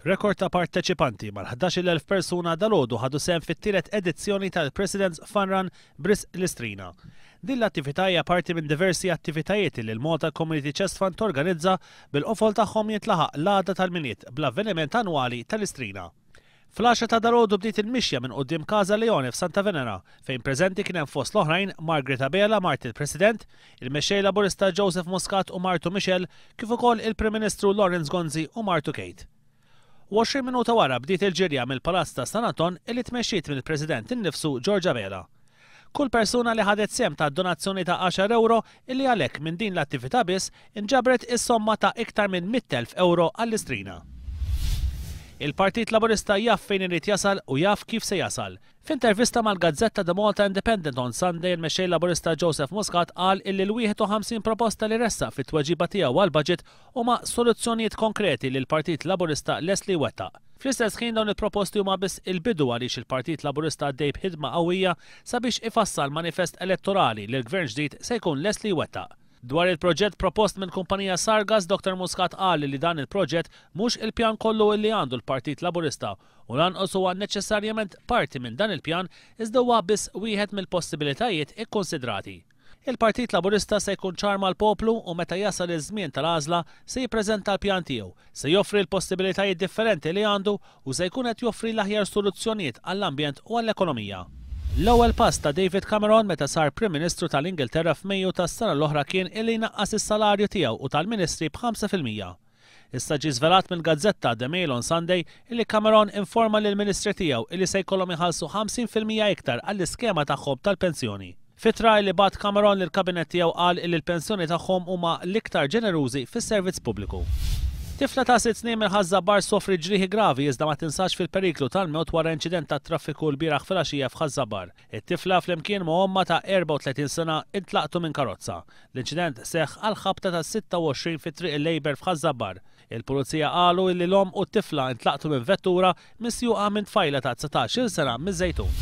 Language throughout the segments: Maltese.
Rekord ta' parteċipanti mal-11,000 persuna dal-għodu ħadu sehem fit-tielet edizzjoni tal-President's Fun Run Bris Listrina. Din l-attività hija parti minn diversi attivitajiet li l-Malta Community Chest Fund torganizza bil-qofol tagħhom jintlaħaq l-għada tal-Milied bl-avveniment annwali tal-Istrina. Fl-għaxra ta' dalgħodu bdiet il-mixja minn quddiem Casa Leone f'Santa Venera, fejn preżenti kien hemm fost l-oħrajn Margaret Abela, mart il-President, il-Mexxej Laburista Joseph Muscat u martu Michelle, kif ukoll il-Prim Ministru Lawrence Gonzi u martu Kate. U 20 minuta wara bdiet il-ġirja mill-Palazz ta' San Anton illi tmexxiet mill-President innifsu George Abela. Kull persuna li ħadet sehem tat donazzjoni ta' għaxar ewro, illi għalhekk minn din l-attività biss inġabret is-somma ta' iktar minn mitt elf ewro għall-Istrina. Il-Partit Laburista jaf fejn irid jasal u jaf kif se jasal. F'intervista mal-gazzetta The Malta Independent on Sunday il-Mexxej Laburista Joseph Muscat qal illi l-51 proposta li ressaq fit-tweġiba tiegħu għall-Budget Huma soluzzjonijiet konkreti li l-Partit Laburista lest li jwettaq. Fl-istess ħin dawn il-proposti huma biss il-bidu għaliex il-Partit Laburista għaddej b'ħidma qawwija sabiex ifassal manifest elettorali li l-Gvern ġdid se jkun lest li jwettaq. Dwar il-proġett propost mill-kumpanija Sargas, Doctor Muscat qal li dan il-proġett mhux il-pjan kollu illi għandu l-Partit Laburista u lanqos huwa neċessarjament parti minn dan il-pjan iżda huwa biss wieħed mill-possibilitajiet ikkunsidrati. Il-Partit Laburista se jkun ċar mal-poplu u meta jasal iż-żmien tal-għażla se jippreżenta l-pjan tiegħu. Se joffri l-possibilitajiet differenti li għandu u se jkun qed joffri l-aħjar soluzzjonijiet għall-ambjent u għall-ekonomija. L-ewwel pass ta' David Cameron meta sar Prim Ministru tal-Ingilterra f'Mejju tas-sena l-oħra kien illi jnaqqas is-salarju tiegħu u tal-ministri b'ħamsa fil-mija. Issa ġie żvelat mill-gazzetta The Mail on Sunday illi Cameron informa lill-ministri tiegħu illi se jkollhom iħallsu 50 fil-mija iktar għall-iskema tagħhom tal-pensjoni. F'ittra illi bagħat Cameron lill-kabinett tiegħu qal illi l-pensjoni tagħhom huma l-iktar ġenerużi fis-servizz pubbliku. Tifla ta' sitt snin mill-Ħaż-Ża Bar sofriet ġrieħi gravi iżda ma tinsax fil-periklu tal-mewt wara inċident tat-traffiku lbieraħ filgħaxija f'Ħaż-Ża Bar. It-tifla flimkien ma' ommha ta' 34 sena ntlaqtu minn karozza. L-inċident seħħ għall-ħabta tas-26 fi Triq il-Labour f'Ħaż-Żabbar. Il-Pulizija qalu illi l-omm u t-tifla ntlaqtu minn vettura misjuqa minn tfajla ta' dsatax il sena miż-Żejtun.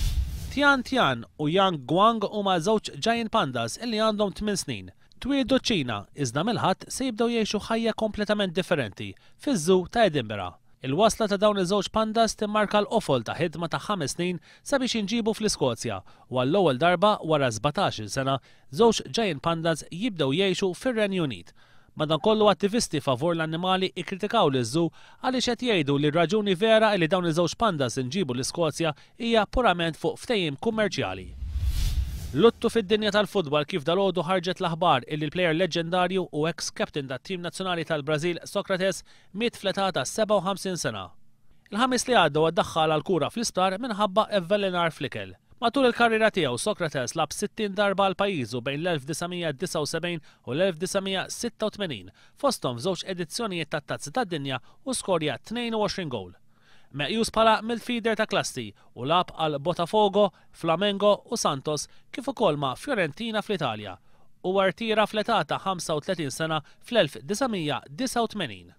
Tian Tian u Yang Guang huma żewġ giant pandas illi għandhom tmien snin. Twieldu ċ-Ċina, iżda mill-Ħadd se jibdew jgħixu ħajja kompletament differenti fiż-Zoo ta' Edinburgh. Il-wasla ta' dawn iż-żewġ pandas timmarka l-qofol ta' ħidma ta' ħames snin sabiex jinġiebu fl-Iskozja u għall-ewwel darba wara sbatax-il sena żewġ giant pandas jibdew jgħixu fir-Renju Unit. Madankollu attivisti favur l-annimali kkritikaw liż-żu għaliex qed jgħidu li r-raġuni vera illi dawn iż-żewġ pandas inġiebu l-Iskozja hija purament fuq ftehim kummerċjali. Luttu fid-dinja tal-futbal kif dalgħodu ħarġet l-aħbar illi l-plejer leġġendarju u eks-captain tat-tim nazzjonali tal-Brażil Socrates miet fl-età ta' 57 sena. Il-Ħamis li għadda huwa ddaħħal għall-kura fl-isptar minħabba evvelenar fl-ikel. Matul il-karriera tiegħu, Socrates lagħab 60 darba għal pajjiżu bejn l-1979 u l-1986, fosthom f'żewġ edizzjonijiet tat-Tazza tad-Dinja u skorja 22 gowl. Meqjus bħala midfielder ta' klassi, u lagħab għal Botafogo, Flamengo u Santos kif ukoll ma' Fiorentina fl-Italja. Huwa rtira fl-età ta' 35 sena fl-1989.